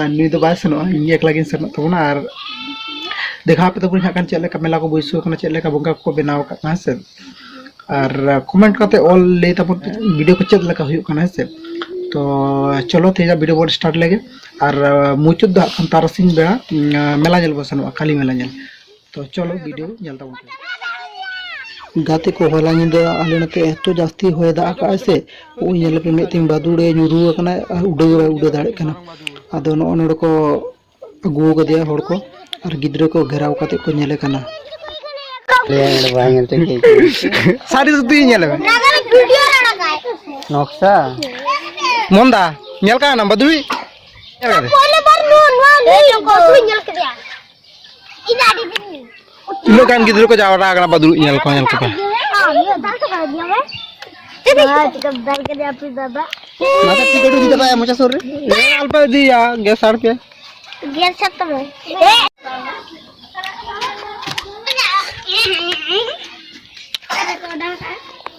ᱟᱨ ᱱᱩᱭ ᱫᱚ ᱵᱟᱭ ᱥᱮᱱᱚᱜᱼᱟ ᱤᱧ ᱮᱠᱞᱟ ᱜᱤᱧ ᱥᱮᱱᱚᱜ ᱛᱟᱵᱚᱱᱟ ᱟᱨ ᱫᱮᱠᱷᱟᱣ ᱟᱯᱮ ᱛᱟᱵᱚᱱ ᱦᱟᱸᱜ ᱠᱷᱟᱱ ᱪᱮᱫ ᱞᱮᱠᱟ ᱢᱮᱞᱟ ᱠᱚ ᱵᱟᱹᱭᱥᱟᱹᱣ ᱠᱟᱱᱟ ᱪᱮᱫ ᱞᱮᱠᱟ ᱵᱚᱸᱜᱟ ᱠᱚᱠᱚ ᱵᱮᱱᱟᱣ ᱟᱠᱟᱫ ᱠᱚᱣᱟ ᱦᱮᱸ ᱥᱮ ᱟᱨ ᱠᱚᱢᱮᱱᱴ ᱠᱟᱛᱮ ᱚᱞ ᱞᱟᱹᱭ ᱛᱟᱵᱚᱱ ᱯᱮ ᱵᱷᱤᱰᱤᱭᱳ ᱠᱚ ᱪᱮᱫ ᱞᱮᱠᱟ ᱦᱩᱭᱩᱜ ᱠᱟᱱᱟ ᱦᱮᱸ ᱥᱮ ᱛᱚ ᱪᱚᱞᱚ ᱛᱮᱦᱮᱧ ᱵᱷᱤᱰᱤᱭᱳ ᱵᱚᱱ ᱥᱴᱟᱨᱴ ᱞᱮᱜᱮ ᱟᱨ ᱢᱩᱪᱟᱹᱫ ᱫᱚ ᱦᱟᱸᱜ ᱠᱷᱟᱱ ᱛᱟᱨᱟᱥᱤᱧ ᱵᱮᱲᱟ ᱢᱮᱞᱟ ᱧᱮᱞ ᱵᱚᱱ ᱥᱮᱱᱚᱜᱼᱟ ᱠᱟᱞᱤ ᱢᱮᱞᱟ ᱧᱮᱞ ᱛᱚ ᱪᱚᱞᱚ ᱵᱷᱤᱰᱤᱭᱳ ᱧᱮᱞ ᱛᱟᱵᱚᱱ ᱯᱮ ᱜᱟᱛᱮ ᱠᱚ ᱦᱚᱞᱟ ᱧᱤᱫᱟᱹ ᱟᱞᱮ ᱱᱚᱛᱮ ᱮᱛᱚ ᱡᱟᱹᱥᱛᱤ ᱦᱚᱭ ᱫᱟᱜ ᱟᱠᱟᱫᱟᱭ ᱥᱮ ᱩᱱ ᱧᱮᱞ ᱯᱮ ᱢᱤᱫ ᱛᱤᱧ ᱵᱟᱫᱩᱲᱮ ᱧᱩᱨᱩ ᱟᱠᱟᱱᱟ ᱟᱨ ᱩᱰᱟᱹᱣ ᱵᱟᱭ ᱩᱰᱟᱹᱣ ᱫᱟᱲᱮᱭᱟᱜ ᱠᱟᱱᱟ ᱟᱫᱚ ᱱᱚᱜᱼᱚ ᱱᱚᱰᱮ ᱠᱚ ᱟᱹᱜᱩ ᱟᱠᱟᱫᱮᱭᱟ ᱦᱚᱲ ᱠᱚ ᱟᱨ ᱜᱤᱫᱽᱨᱟᱹ ᱠᱚ ᱜᱷᱮᱨᱟᱣ ᱠᱟᱛᱮ ᱠᱚ ᱧᱮᱞᱮ ᱠᱟᱱᱟ ᱥᱟᱹᱨᱤ ᱥᱩᱛᱤ ᱧᱮᱞ ᱢᱮ ᱱᱚᱠᱥᱟ ᱢᱚᱱᱫᱟ ᱧᱮᱞ ᱠᱟᱱᱟ ᱵᱟᱫᱩᱲᱤ ᱧᱮᱞ ᱠᱟᱫᱮ ᱛᱤᱱᱟᱹᱜ ᱜᱟᱱ ᱜᱤᱫᱽᱨᱟᱹ ᱠᱚ ᱡᱟᱣᱨᱟ ᱟᱠᱟᱱᱟ ᱵᱟ ᱫᱩᱲᱩᱵ ᱧᱮᱞ ᱠᱚ ᱧᱮᱞ ᱠᱚᱯᱮ ᱢᱟᱛᱟ ᱴᱤ ᱜᱟᱹᱰᱤ ᱤᱫᱤ ᱠᱟᱛᱟᱭᱟ ᱢᱚᱪᱟ ᱥᱩᱨ ᱨᱮ ᱟᱞᱯᱟ ᱤᱫᱤᱭᱟ ᱜᱮᱥ ᱟᱨ ᱯᱮ ᱜᱮᱥ ᱥᱟᱛ ᱛᱟᱢᱟ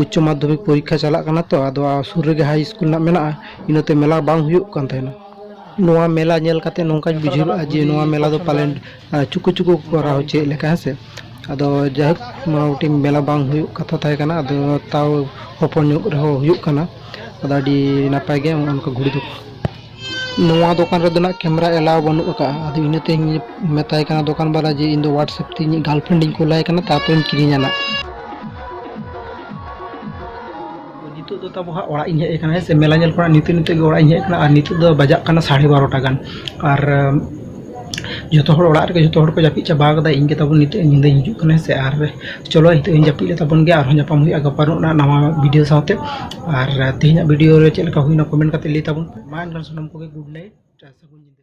ᱩᱪᱪᱚ ᱢᱟᱫᱽᱫᱷᱚᱢᱤᱠ ᱯᱚᱨᱤᱠᱠᱷᱟ ᱪᱟᱞᱟᱜ ᱠᱟᱱᱟ ᱛᱚ ᱟᱫᱚ ᱥᱩᱨ ᱨᱮᱜᱮ ᱦᱟᱭ ᱤᱥᱠᱩᱞ ᱨᱮᱱᱟᱜ ᱢᱮᱱᱟᱜᱼᱟ ᱤᱱᱟᱹᱛᱮ ᱢᱮᱞᱟ ᱵᱟᱝ ᱦᱩᱭᱩᱜ ᱠᱟᱱ ᱛᱟᱦᱮᱱᱟ ᱱᱚᱣᱟ ᱢᱮᱞᱟ ᱧᱮᱞ ᱠᱟᱛᱮ ᱱᱚᱝᱠᱟᱧ ᱵᱩᱡᱷᱟᱹᱣ ᱞᱮᱫᱼᱟ ᱡᱮ ᱱᱚᱣᱟ ᱢᱮᱞᱟ ᱫᱚ ᱯᱟᱞᱮᱱ ᱪᱩᱠᱩ ᱪᱩᱠᱩ ᱠᱚ ᱠᱚᱨᱟᱣ ᱦᱚᱪᱚᱭᱮᱫ ᱞᱮᱠᱟ ᱦᱮᱸ ᱥᱮ ᱟᱫᱚ ᱡᱟᱭᱦᱳᱠ ᱢᱚᱴᱟᱢᱩᱴᱤ ᱢᱮᱞᱟ ᱵᱟᱝ ᱦᱩᱭᱩᱜ ᱠᱟᱛᱷᱟ ᱛᱟᱦᱮᱸ ᱠᱟᱱᱟ ᱟᱫᱚ ᱛᱟᱣ ᱦᱚᱯᱚᱱ ᱧᱚᱜ ᱨᱮᱦᱚᱸ ᱦᱩᱭᱩᱜ ᱠᱟᱱᱟ ᱟᱫᱚ ᱟᱹᱰᱤ ᱱᱟᱯᱟᱭ ᱜᱮ ᱚᱱᱠᱟ ᱜᱷᱩᱲᱤ ᱫᱚ ᱱᱚᱣᱟ ᱫᱚᱠᱟᱱ ᱨᱮᱫᱚ ᱱᱟᱜ ᱠᱮᱢᱮᱨᱟ ᱮᱞᱟᱣ ᱵᱟᱹᱱᱩᱜ ᱟᱠᱟᱫᱼᱟ ᱟᱫᱚ ᱤᱱᱟᱹᱛᱮᱧ ᱢᱮᱛᱟᱭ ᱠᱟᱱᱟ ᱫᱚᱠᱟᱱ ᱵᱟᱞᱟ ᱡᱮ ᱤᱧ ᱫᱚ ᱦᱳᱣᱟᱴᱥᱮᱯ ᱛᱮ ᱤᱧᱤᱡ ᱜᱟᱨᱞᱯᱷᱨᱮᱱᱰ ᱤᱧ ᱠᱩᱞᱟᱭ ᱠᱟᱱᱟ ᱛᱟᱨᱯᱚᱨᱮᱧ ᱠᱤᱨᱤᱧᱟ ᱱᱟᱜ ᱱᱤᱛᱚᱜ ᱫᱚ ᱛᱟᱵᱚ ᱦᱟᱸᱜ ᱚᱲᱟᱜ ᱤᱧ ᱦᱮᱡ ᱟᱠᱟᱱᱟ ᱦᱮᱸ ᱥᱮ ᱢᱮᱞᱟ ᱧᱮᱞ ᱠᱷᱚᱱᱟᱜ ᱱᱤᱛᱚᱜ ᱱᱤᱛᱚᱜ ᱜᱮ ᱚᱲᱟᱜ ᱤᱧ ᱦᱮᱡ ᱟᱠᱟᱱᱟ ᱟᱨ ᱱᱤᱛᱚᱜ ᱫᱚ ᱵᱟᱡᱟᱜ ᱠᱟᱱᱟ ᱥᱟᱲᱮ ᱵᱟᱨᱚᱴᱟ ᱜᱟᱱ ᱟᱨ ᱡᱚᱛᱚ ᱦᱚᱲ ᱚᱲᱟᱜ ᱨᱮᱜᱮ ᱡᱚᱛᱚ ᱦᱚᱲ ᱠᱚ ᱡᱟᱹᱯᱤᱫ ᱪᱟᱵᱟ ᱠᱟᱫᱟ ᱤᱧ ᱜᱮ ᱛᱟᱵᱚᱱ ᱱᱤᱛᱚᱜ ᱧᱤᱫᱟᱹ ᱦᱤᱡᱩᱜ ᱠᱟᱱᱟ ᱥᱮ ᱟᱨ ᱪᱚᱞᱚ ᱱᱤᱛᱚᱜ ᱤᱧ ᱡᱟᱹᱯᱤᱫ ᱞᱮᱜᱮ ᱛᱟᱵᱚᱱ ᱜᱮ ᱟᱨᱦᱚᱸ ᱧᱟᱯᱟᱢ ᱦᱩᱭᱩᱜᱼᱟ ᱜᱟᱯᱟ ᱱᱚᱜᱼᱚ ᱱᱟ ᱱᱟᱣᱟ ᱵᱷᱤᱰᱤᱭᱳ ᱥᱟᱶᱛᱮ ᱟᱨ ᱛᱮᱦᱮᱧᱟᱜ ᱵᱷᱤᱰᱤᱭᱳ ᱨᱮ ᱪᱮᱫ ᱞᱮᱠᱟ ᱦᱩᱭᱱᱟ ᱠᱚᱢᱮᱱᱴ ᱠᱟᱛᱮ ᱞᱟᱹᱭ ᱛᱟᱵᱚᱱ ᱯᱮ ᱢᱟ ᱮᱱᱠᱷᱟᱱ ᱥᱟᱱᱟᱢ ᱠᱚᱜᱮ ᱜᱩᱰ ᱱᱟᱭᱤᱴ ᱟᱨ ᱥᱟᱹᱜᱩᱱ ᱧᱤᱫᱟᱹ